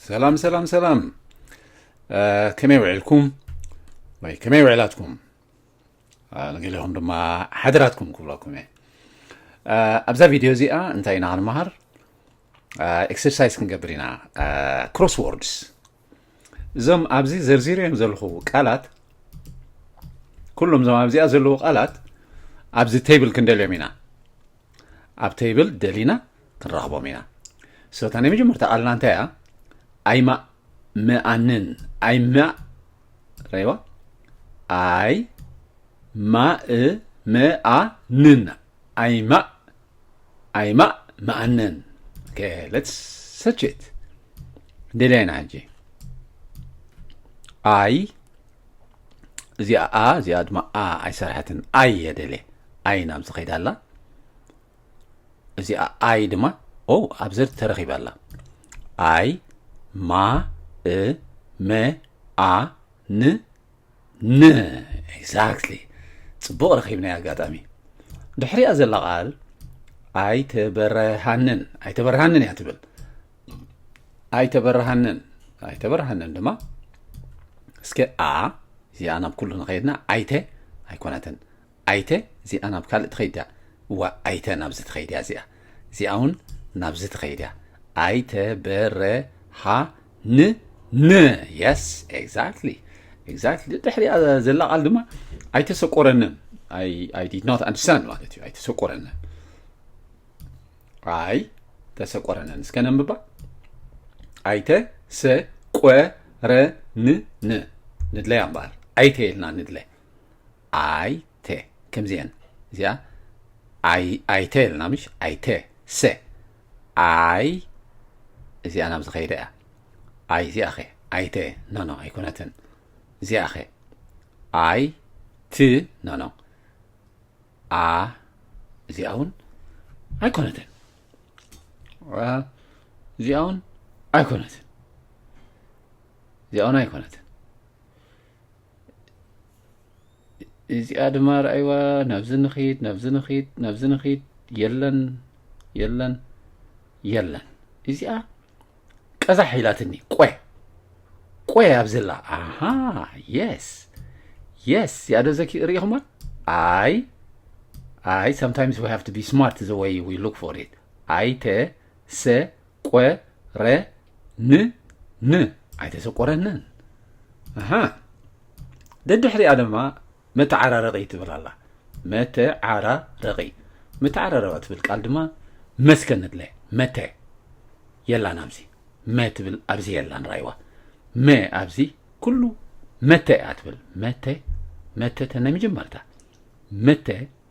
ሰላም ሰላም ሰላም ከመይ ውዒልኩም ወይ ከመይ ውዒላትኩም ንገሊኹም ድማ ሓደራትኩም ክብለኩም እየ ኣብዛ ቪድዮ እዚኣ እንታይ ኢና ክንመሃር ኤክሰርሳይዝ ክንገብር ኢና ክሮስ ወርድስ እዞም ኣብዚ ዘርዚረዮም ዘለኹ ቃላት ኩሎም እዞም ኣብዚኣ ዘለዉ ቃላት ኣብዚ ቴብል ክንደልዮም ኢና ኣብ ቴብል ደሊና ክንረኽቦም ኢና ስለታ ናይ መጀመርታ ቃልና እንታይ እያ ኣይማ ምኣንን ኣይማ ረይዋ ኣይ ማእ መኣ ንን ኣይ ማእ ኣይ ማእ መኣነን ከ ለትስ ሰችት ደላይ ኢና ሕጂ ኣይ እዚኣ ኣ እዚኣ ድማ ኣ ኣይሰርሐትን ኣይ እየ ደልየ ኣይ ናብዚ ከይዳ ኣላ እዚኣ ኣይ ድማ ኦ ኣብ ዘር ተረኺባ ኣላ ኣይ ማ እ መ ኣ ን ን ኤግዛክትሊ ጽቡቕ ረኺብናይ ኣጋጣሚ ድሕሪያ ዘላ ቃል ኣይተበረሃንን ኣይተበረሃንን እያ ትብል ኣይተበረሃንን ኣይተበረሃንን ድማ እስከ ኣ እዚኣ ናብ ኩሉ ንኸየድና ኣይተ ኣይኮነትን ኣይተ እዚኣ ናብ ካልእ ትኸይድ እያ እዋእ ኣይተ ናብዚ ትኸይድ እያ እዚኣ እዚኣ እውን ናብዚ ትኸይድ እያ ኣይተ በረሃ ን ን የስ ኤግዛክትሊ ኤግዛክትሊ ድሕሪኣ ዘላ ቃል ድማ ኣይተሰቆረንን ኣይ ዲድ ኖት ኣንደርስታንድ ማለት እዩ ኣይተሰቆረንን ኣይ ተሰቆረንን እስከ ነንብባ ኣይተ ሰቆረንን ንድለያ እምበኣር ኣይተ የልና ንድለ ኣይ ተ ከምዚኤን እዚኣ ኣይ ኣይተ ኢልና ምሽ ኣይተ ሰ ኣይ እዚኣ ናብ ዝኸይደ እያ ኣይ እዚኣ ኸ ኣይተ ኖኖ ኣይኮነትን እዚኣ ኸ ኣይ ት ኖኖ ኣ እዚኣ እውን ኣይኮነትን እዚኣ እውን ኣይኮነትን እዚኣ እውን ኣይኮነትን እዚኣ ድማ ርኣይዋ ናብዚ ንኺድ ናብዚ ንኺድ ናብዚ ንኺድ የለን የለን የለን እዚኣ ቀዛሕ ኢላትኒ ቆየ ቆየ ኣብ ዘላ ኣሃ የስ የስ ያዶ ዘኪ ርኢኹማ ኣይ ኣይ sometimes we have to be smart the way we look for it ኣይተ ሰ ቆ ረ ን ን ኣይተሰቆረንን ኣሃ ደድሕሪኣ ድማ መተዓራረቂ ትብል ኣላ መተዓራረቂ መተዓራረቂ ትብል ቃል ድማ መስከ ንድለ መተ የላን ኣብዚ መ ትብል ኣብዚ የላን ራይዋ መ ኣብዚ ኩሉ መተ እያ ትብል መተ መተ ተናይ መጀመርታ መተ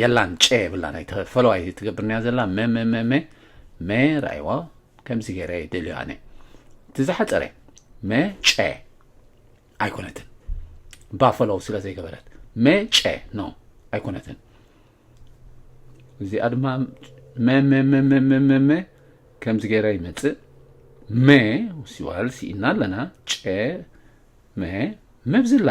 የላን ጨ የብላ ናይ ተፈለዋይ ትገብርንያ ዘላ መመመመ መ ራይዋ ከምዚ ገይረ ይደልዮ ኣነ እቲ ዝሓፀረ መ ጨ ኣይኮነትን ባፈሎው ስለ ዘይገበረት መ ጨ ኖ ኣይኮነትን እዚኣ ድማ መመመመመመ ከምዚ ገይረ ይመፅእ መ ሲዋል ሲኢና ኣለና ጨ መ መብዝላ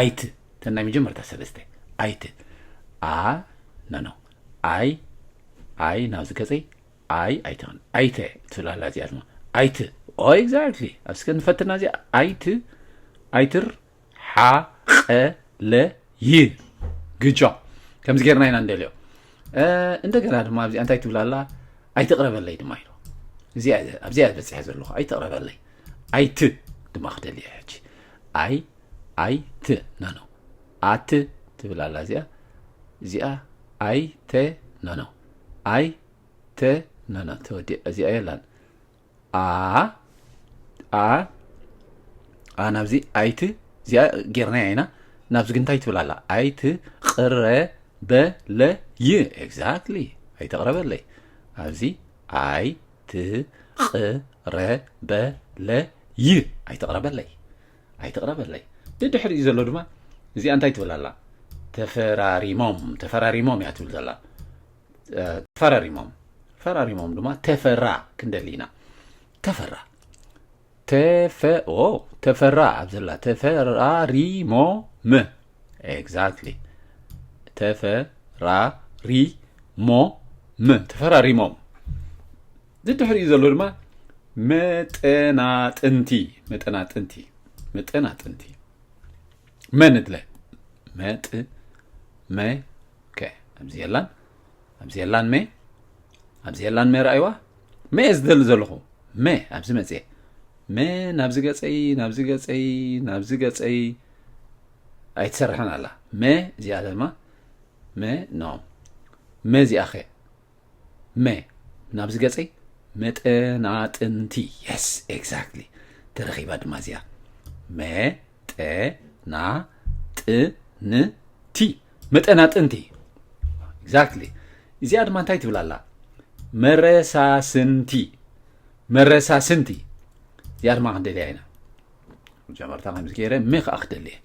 ኣይት እተን ናይ መጀመርታ ሰለስተ ኣይት ኣ ኖኖ ኣይ ኣይ ናብዚ ገፀይ ኣይ ኣይትኽን ኣይተ ትብል ኣላ እዚኣ ድማ ኣይት ኦ ኤግዛክትሊ ኣብ ስከ ንፈትና እዚኣ ኣይት ኣይትር ሓቐለ ይ ግጆ ከምዚ ጌርና ኢና እንደልዮ እንደገና ድማ ኣብዚኣ እንታይ ትብል ኣላ ኣይትቕረበለይ ድማ ኢሉ ኣብዚኣ ዝበፅሐ ዘለኹ ኣይትቕረበለይ ኣይት ድማ ክደልየ ሕጂ ኣይ ኣይ ት ኖኖ ኣት ትብል ኣላ እዚኣ እዚኣ ኣይ ተ ኖኖ ኣይ ተ ኖኖ ተወዲእ እዚኣ የላን ኣ ኣ ኣ ናብዚ ኣይት እዚኣ ጌርናያ ኢና ናብዚ ግን እንታይ ትብል ኣላ ኣይት ቅረበለይ ኤግዛክትሊ ኣይተቕረበለይ ኣብዚ ኣይ ትቕረበለይ ኣይተቕረበለይ ኣይትቕረበለይ ድድሕሪኡ ዘሎ ድማ እዚኣ እንታይ ትብል ኣላ ተፈራሪሞም ተፈራሪሞም እያ ትብል ዘላ ፈራሪሞም ፈራሪሞም ድማ ተፈራ ክንደሊ ኢና ተፈራ ተፈ ኦ ተፈራ ኣብ ዘላ ተፈራሪሞ ም ኤግዛክትሊ ተፈራሪሞ ም ተፈራሪሞም ዝድሕሪኡ ዘሎ ድማ መጠናጥንቲ መጠናጥንቲ መጠናጥንቲ መንድለ መጥ መ ከ ኣብዚ የላን ኣብዚ የላን መ ኣብዚ የላን መ ረኣይዋ መ እየ ዝደሊ ዘለኹ መ ኣብዚ መፅኤ መ ናብዚ ገፀይ ናብዚ ገፀይ ናብዚ ገፀይ ኣይትሰርሐን ኣላ መ እዚኣ ድማ መ ኖ መ እዚኣ ኸ መ ናብዚ ገጸይ መጠናጥንቲ የስ ኤግዛክትሊ ተረኺባ ድማ እዚኣ መጠናጥንቲ መጠናጥንቲ ኤግዛክትሊ እዚኣ ድማ እንታይ ትብል ኣላ መረሳስንቲ መረሳስንቲ እዚኣ ድማ ክንደልያ ኢና መጀመርታ ከምዚ ገይረ መ ከዓ ክደልየ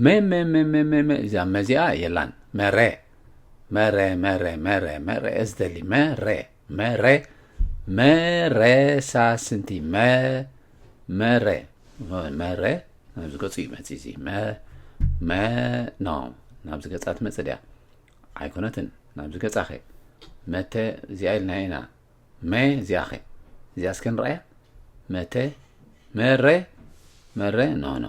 መ መ መ መ መ እዚኣ መዚኣ የላን መረ መረ መረ መረ መረ እዝደሊ መረ መረ መረ ሳስንቲ መ መረ መረ ናብዚ ገጹ እዩ መጽ እዚ መ መ ኖ ናብዚ ገጻ ትመጽእ ድያ ኣይኮነትን ናብዚ ገጻ ኸ መተ እዚኣ ኢልና ኢና መ እዚኣ ኸ እዚኣ እስከ ንረኣያ መተ መረ መረ ኖ ኖ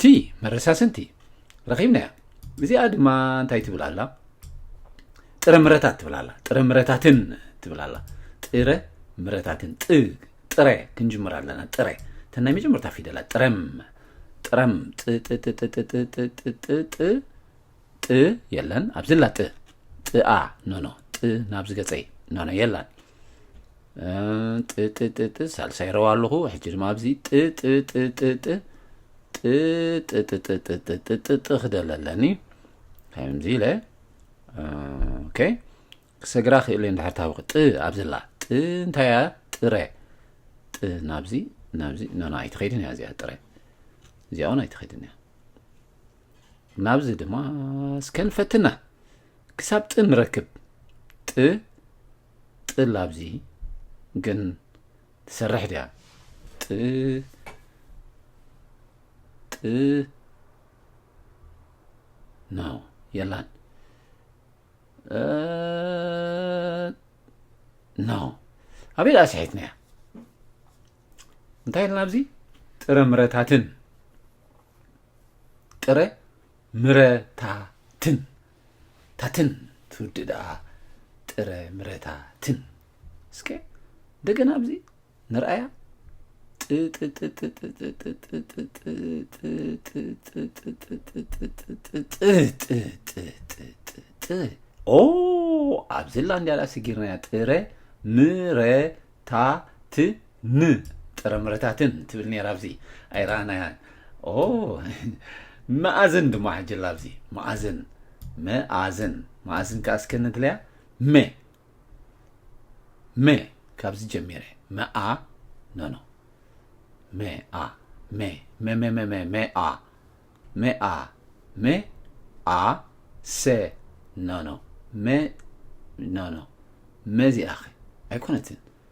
ቲ መረሳስንቲ ረኺብናያ እዚኣ ድማ እንታይ ትብል ኣላ ጥረ ምረታት ትብል ኣላ ጥረ ምረታትን ትብል ኣላ ጥረ ምረታትን ጥ ጥረ ክንጅምር ኣለና ጥረ እተን ናይ መጀመርታ ፊደላት ጥረም ጥረም ጥጥጥጥጥጥጥጥ ጥ የለን ኣብዚ ላ ጥ ጥኣ ኖኖ ጥ ናብዚ ገፀይ ኖኖ የላን ጥጥጥጥ ሳልሳይ ረዋ ኣለኹ ሕጂ ድማ ኣብዚ ጥጥጥጥጥ ጥጥጥጥጥጥጥጥ ክደለ ኣለኒ ከምዚ ኢለ ኦኬ ክሰግራ ክእለ እንድሕር ታብቂ ጥ ኣብዝላ ጥ እንታይ እያ ጥረ ጥ ናብዚ ናብዚ ኖና ኣይትኸይድን እያ እዚኣ ጥረ እዚኣ እውን ኣይትኸይድን እያ ናብዚ ድማ እስከ ንፈትና ክሳብ ጥ ንረክብ ጥ ጥል ኣብዚ ግን ትሰርሕ ድያ ጥ ጥ ናው የላን ናው ኣበይ ደኣ ስሒትና እያ እንታይ ኢልና ኣብዚ ጥረ ምረታትን ጥረ ምረ ታ ትን ታትን ትውድ ደኣ ጥረ ምረታ ትን እስከ እንደገና ኣብዚ ንርኣያ ኦ ኣብዚ ላ እንዲያላ ስጊርናያ ጥረ ምረ ታ ት ን ጥረምረታትን ትብል ነራ ኣብዚ ኣይረኣናያን ኦ መኣዝን ድማ ሕጅላ ኣብዚ መኣዝን መኣዝን መኣዝን ከዓ እስከ ንድለያ መ መ ካብዚ ጀሚረ መኣ ኖኖ መኣ መ መ መ መ መ መኣ መኣ መ ኣ ሰ ኖኖ መ ኖኖ መዚኣ ኸ ኣይኮነትን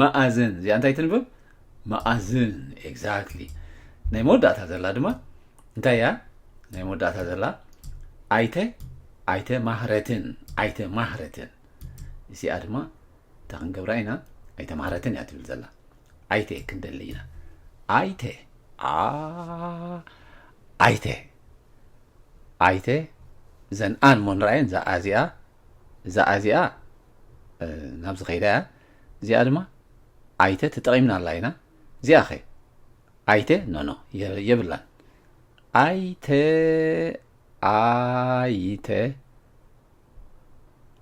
መኣዝን እዚኣ እንታይ ትንብብ መኣዝን ኤግዛክትሊ ናይ መወዳእታ ዘላ ድማ እንታይ እያ ናይ መወዳእታ ዘላ ኣይተ ኣይተ ማህረትን ኣይተ ማህረትን እዚኣ ድማ እታ ክንገብራ ኢና ኣይተ ማህረትን እያ ትብል ዘላ ኣይተ ክንደሊ ኢና ኣይተ ኣይተ ኣይተ ዘን ኣን ሞንራየን እዚኣ እዛኣ እዚኣ ናብዚ ከይዳ እያ እዚኣ ድማ ኣይተ ተጠቒምና ኣላ ኢና እዚኣ ኸ ኣይተ ኖኖ የብላን ኣይተ ኣይተ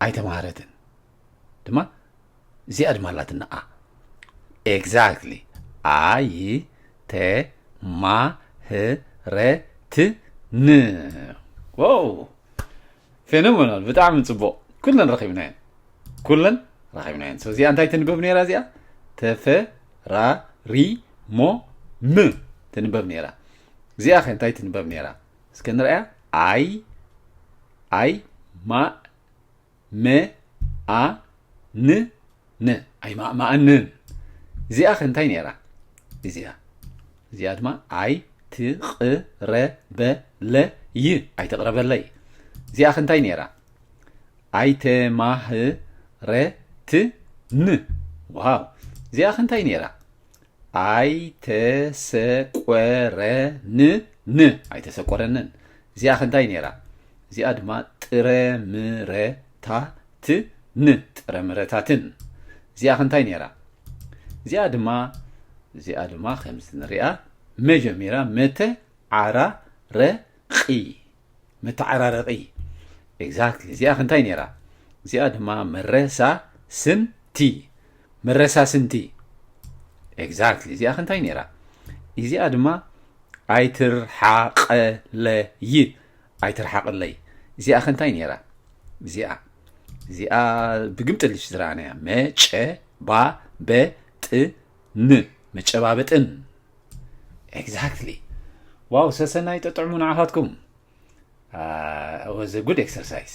ኣይተማሃረትን ድማ እዚኣ ድማ ኣላትና ኣ ኤግዛክትሊ ኣይ ተ ማ ህ ረ ት ን ዋው ፌኖመናል ብጣዕሚ ጽቡቕ ኩለን ረኺብናየን ኩለን ረኺብናየን ሶ እዚኣ እንታይ ትንበብ ነይራ እዚኣ ተፈራሪሞ ም ትንበብ ነይራ እዚኣ ከ እንታይ ትንበብ ነይራ እስከ ንርኣያ ኣይ ኣይ ማ መ ኣ ን ን ኣይ ማእማእንን እዚኣ ከ እንታይ ነይራ እዚኣ እዚኣ ድማ ኣይ ትቕረበለይ ኣይትቕረበለይ እዚኣ ከ እንታይ ነይራ ኣይተማህረትን ዋው እዚኣ ከ እንታይ ነይራ ኣይተሰቆረንን ን ኣይተሰቆረንን እዚኣ ከ እንታይ ነይራ እዚኣ ድማ ጥረምረ ታ ት ን ጥረ ምረታትን እዚኣ ከ እንታይ ነይራ እዚኣ ድማ እዚኣ ድማ ከምዚ ንሪኣ መጀሚራ መተ ዓራ ረ ቂ መተዓራረቂ ኤግዛክትሊ እዚኣ ከ እንታይ ነይራ እዚኣ ድማ መረሳ ስን ቲ መረሳስንቲ ኤግዛክትሊ እዚኣ ከ እንታይ ነይራ እዚኣ ድማ ኣይትርሓቐለይ ኣይትርሓቅለይ እዚኣ ከ እንታይ ነይራ እዚኣ እዚኣ ብግምጥልሽ ዝረኣናያ መጨ ባ በ ጥ ን መጨባበጥን ኤግዛክትሊ ዋው ሰሰናይ ጠጥዕሙ ንዓኻትኩም ወዘ ጉድ ኤክሰርሳይዝ